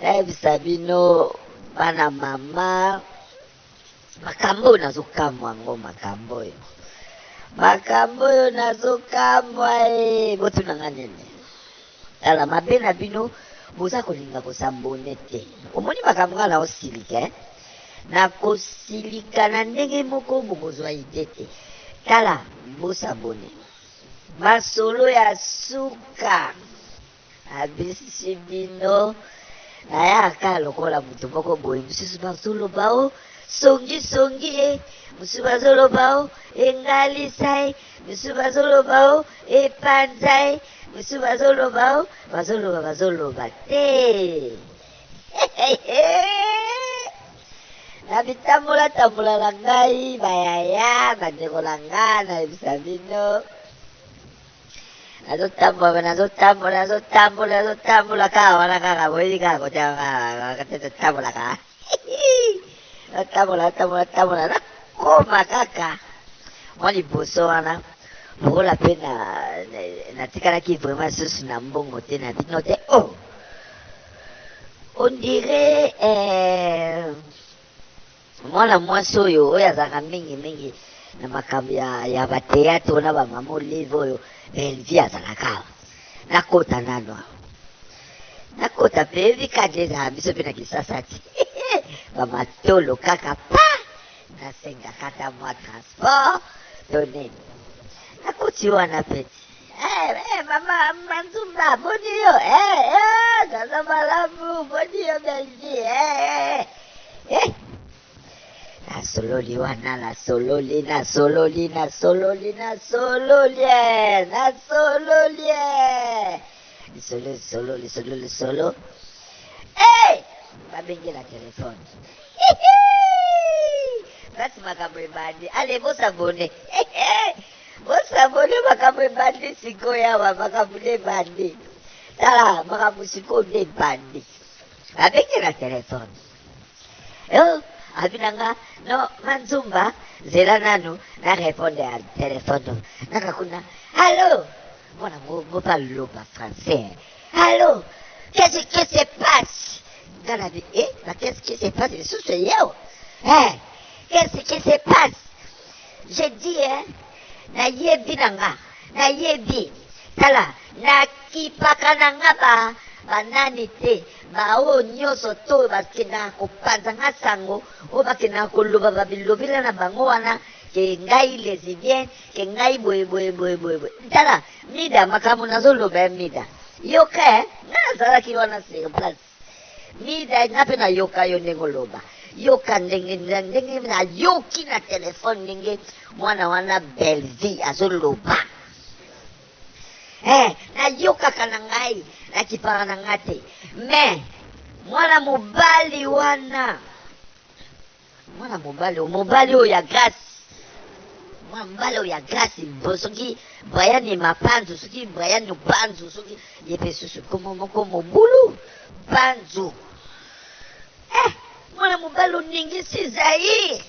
nayebisa bino bana mama makambo oyo nazokamwa yango makambo oyo makambo oyo nazokamwa e botuna nga nini tala mabe na bino boza kolinga kosambone te omoni makambo nga naosilika eh? nakosilika na ndenge moko bokozwa ide te tala bosabone masolo ya suka Abebisi bino nayaka lokola moto moko boye mosusu bazoloba o songisongi e mosusu bazoloba o engalisa e mosusu bazoloba o epanza e mosusu bazoloba o bazoloba bazoloba te na bitambolatambola na ngai bayaya bandeko na ngai nayebisa bino nazotambola nazotambola nazotambola nazotambola kaka wana kaka boyebi kaka kote totambolaka natambola natambola natambola nakoma kaka mwa liboso wana lokola mpe natikalaki vraiment lisusu na mbongo te na bino te o oh! on dirait eh, Mwana mwasi oyo oyo azalaka mingi mingi na makambo ya, ya bateyate oyo na bamama olive oyo belvi azalaka awa nakota nano awa nakota mpe yebi kadi ezala biso mpe na kisasa te bamatolo kaka pa nasengaka ata mwa transport to nini nakoti wana mpe te Eh, eh, mama Mansumba, boni yo, eh, eh, naza malamu, boni yo Belgi, eh, eh, eh. Nasololi wana, nasololi, nasololi, nasololi, nasololi, eh, nasololi, eh. Lisolo, lisolo, lisolo, lisolo. Eh, babengela telefone. Hihi! Basi makambo ebandi, ale bosabone. Eh, eh. Bo savonner makambo ebandi sikoyo awa makambo nde ebandi. Tala makambo sikoyo nde ebandi. Abengi na telefone. Yo abi na nga no manzumba zela nanu na reponde ya telefone naka kuna alo mwana ngo ngo baloba français alo qu'est-ce qui se passe nga na bi eh ba qu'est-ce qui se passe lisusu yeo eh qu'est-ce qui se passe Je dis hein na yebi na nga na yebi tala na kipaka na nga ba ba nani te ba oyo nyoso to ba kenda ko panza nga sango oyo ba kenda ko loba ba bilobela na bango wana ke ngai lesbienne ke ngai boye boye boye boye boye tala mida makambo nazo loba ya mida yoka eh nga nazalaki wana sur place Mida nga pe na yoka yo ndenge oloba yoka ndenge ndenge na yoki na telephone ndenge mwana wana Bellevue azo loba eh na yokaka na ngai na kipara na nga te mais mwana mobali wana Mwana mobali oyo, mobali oyo ya grace. Mwana mobali oyo ya grace, bo soki Brian et Mapanzu, soki Brian Panzu, soki ye pe susu komo moko mobulu Panzu. Eh, mwana mobali oningisi Zaire.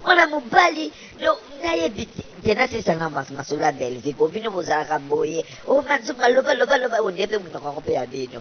Mwana mobali no nayebi te. Tena sisa na mas masolo ya Bellevue, bo bino bozalaka boye. O Manzunga loba loba loba, onde pe munoko yango pe ya bino.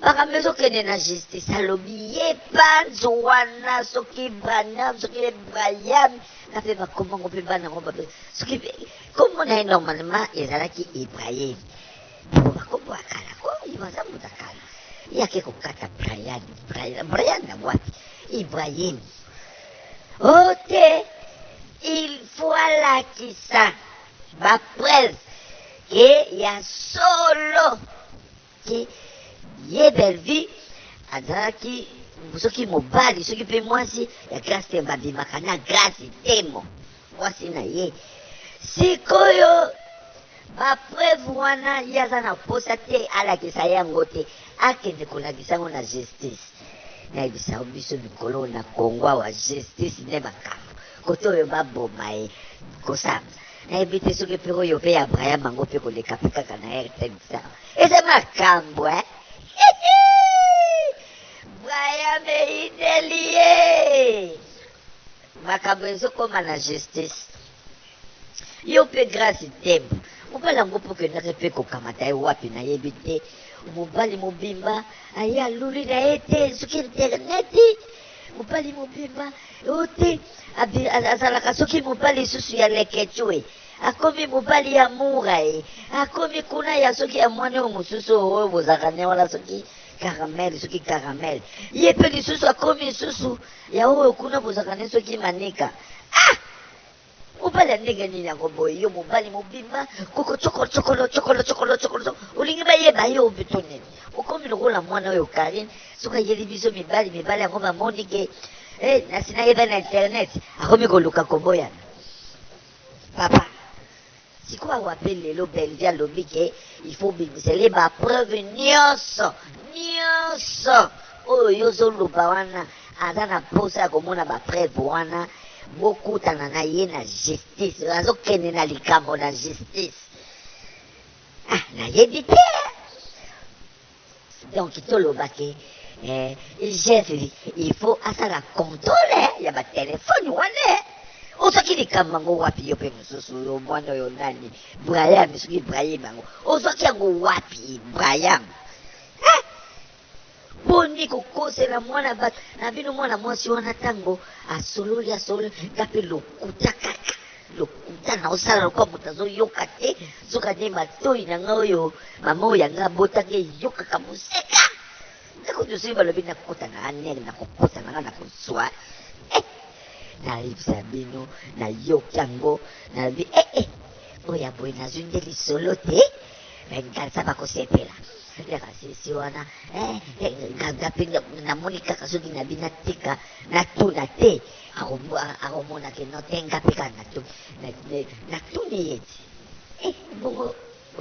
makambo ezokende na justice alobi ye panzo wana soki branam soki ye brian na mpe bakoma yango mpe bana yango babe soki nkombo na ye normalement ezalaki ibrahim po bakombo ya kala ko ye baza moto ya kala ye ake kokata brian brian brian na wapi ibrahim o oh, te il faut alakisa bapreuve ke ya solo que ye Bellevue azalaki soki mobali soki pe mwasi ya Grace Temo babimaka na Grace Temo mwasi na ye sikoyo ba preuve wana ye aza na posa te alakisa yango te akende kolakisa yango na justice nayebisa biso mikolo na Congo awa justice nde makambo kote oyo baboma ye kosamba nayebi te soki mpe oyo mpe ya braya bango mpe koleka mpe kaka na rtn sawa eza makambo e braya meidelie makambo ezokoma na justice yo mpe grace tembo mobali yango mpo okendaki mpe kokamata ye wapi nayebi te mobali mobimba aye aluli na ye te soki interneti mobali mobimba ote azalaka soki mobali lisusu ya lekecue akomi mobali ya mura ye akomi kuna ya soki ya mwana oyo mosusu oyo bozalaka ne wana soki caramel soki caramel ye mpe lisusu akomi lisusu ya oyo kuna bozalaka ne soki manika ah! Mobali ya ndenge nini yango boye yo mobali mobimba koko chokolo chokolo chokolo chokolo chokolo chokolo. olingi bayeba yo obe to nini okomi lokola mwana oyo Karine soki ayeli biso mibali mibali yango bamoni ke eh, nasi nayeba na internet akomi koluka koboyana papa Sikoyo awa pe lelo Bellevue alobi ke il faut obimisa ye ba preuve nionso nionso oyo yo ozoloba wana aza na posa ya komona ba preuve wana bokutana na ye na justice azokende na likambo na justice ah nayebi te Donc toloba ke eh, jeff il faut asala controle ya ba telefone wana ozwaki likambo yango wapi yo mpe mosusu oyo mwana oyo nani brayam soki ibrahim yango ozwaki yango wapi ibrahim eh? boni kokosela mwana bato na bino mwana mwasi wana ntango asololi asololi nga mpe lokuta kaka Lokuta na osala lokola moto azoyoka te soka nde matoi na ngai oyo mama oyo ya ngai abotaki eyokaka moseka ntango nyonso oyo balobi nakota na anel nakokota na ngai nakozwa eh, nayebisa bino nayoki yango nalobi ee eh, eh, oyo ya boye nazwi nde lisolo te nganza bakosepela ya basisi wana eh, eh, nga mpe namoni kaka soki nabi natika natuna te Akomona ke non te nga pe kaka natuni ye ti eh, bongo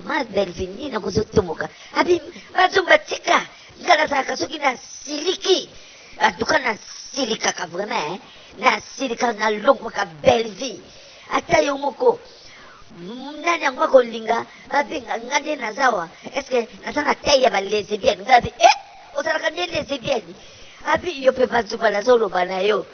ma belleville nini nango ozotomoka abi bazongo batika nga nazalaka soki nasiliki antuka nasilikaka vraiment eh. nasilika nalongwaka belleville ata yo moko nani yango akolinga babenga nga nde nazawa estce naza na tai ya balesbienne nga bi eh ozalaka nde lesbienne abi yo mpe banzuba nazoloba na yo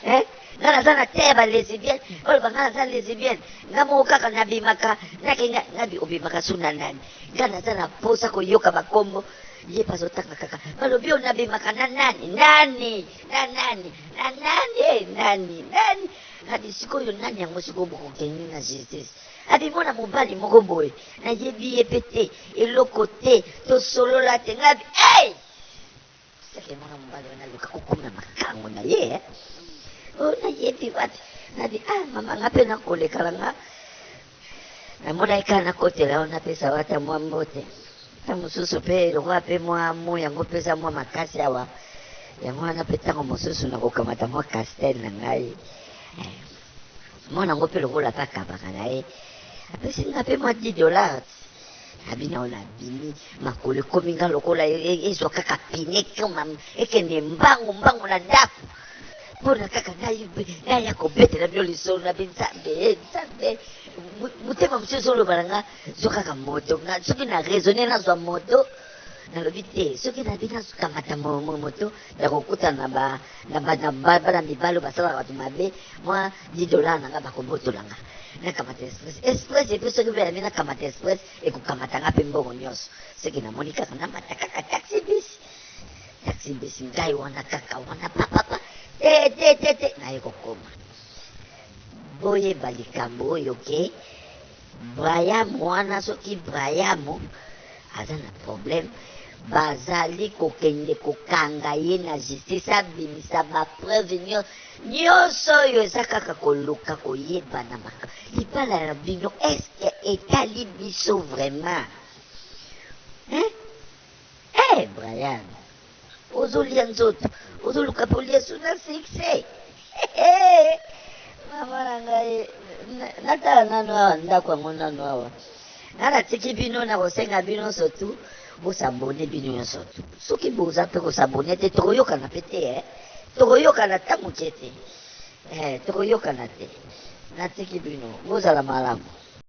eh? nga naza na te ya balesbienne baloba nga naza lesbienne nga moko kaka nabimaka nakenda nabi obimaka su na nani nga naza na mposa koyoka bakombo ye bazotanga kaka balobi oyo nabimaka na nani nani na nani na nani e nani nani kadi sikoyo nani yango sikoyo bokokende na justice Abi mwana mobali moko boye nayebi ye pe te eloko te tosolola te nga bi hey! seke mwana mobali wana aluka kokoma na makango na ye eh? o oh, nayebi wapi nabi ah mama nga pe nakolekala nga namonaki kaka nakotela yo napesa yo ata mwa mbote ta mosusu pe lokola pe mwa mo yango pesa mwa makasi awa yango wana pe ntango mosusu nakokamata mwa castel na ngai eh. mwana ngo pe lokola ata akabaka na ye apesi nga pe mwa 10 dollars abi nao na bimi makolo ekomi nga lokola e, e, ezwa kaka pine koma ekende mbangu mbangu na ndako mpona kaka naya kobetela bino lisolo na binzambe eh, nzambe motema mosusu ezoloba na nga zwa kaka moto soki na raisonne nazwa moto nalobi te soki nabi nakamata moto ya kokutana ba na ba na ba bana mibali basalaka bato mabe mwa 10 dollars na nga bakobotola nga nakamata express express epe soki mpe yambi nakamata express ekokamata nga mpe mbongo nyonso soki namoni kaka namata kaka taxi bis taxi bis ngai wana kaka wana papapa te te te te naye kokoma boyeba likambo oyo ke okay? Brayam wana soki Brayam aza na problème bazali kokende kokanga ye na justice abimisa ba preuve nyo nyonso oyo eza kaka koluka koyeba na maka libala na bino eske etali biso vraiment hein? Eh, Brian ozo lia nzoto ozo luka pe olia su na succès mama na ngai natala nanu awa ndako yango nanu awa nga natiki bino nakosenga bino sotu bosabone bino nyonso tu soki boza mpe kosabone te tokoyokana mpe te eh. tokoyokana ta moke te eh, tokoyokana te natiki bino bozala malamu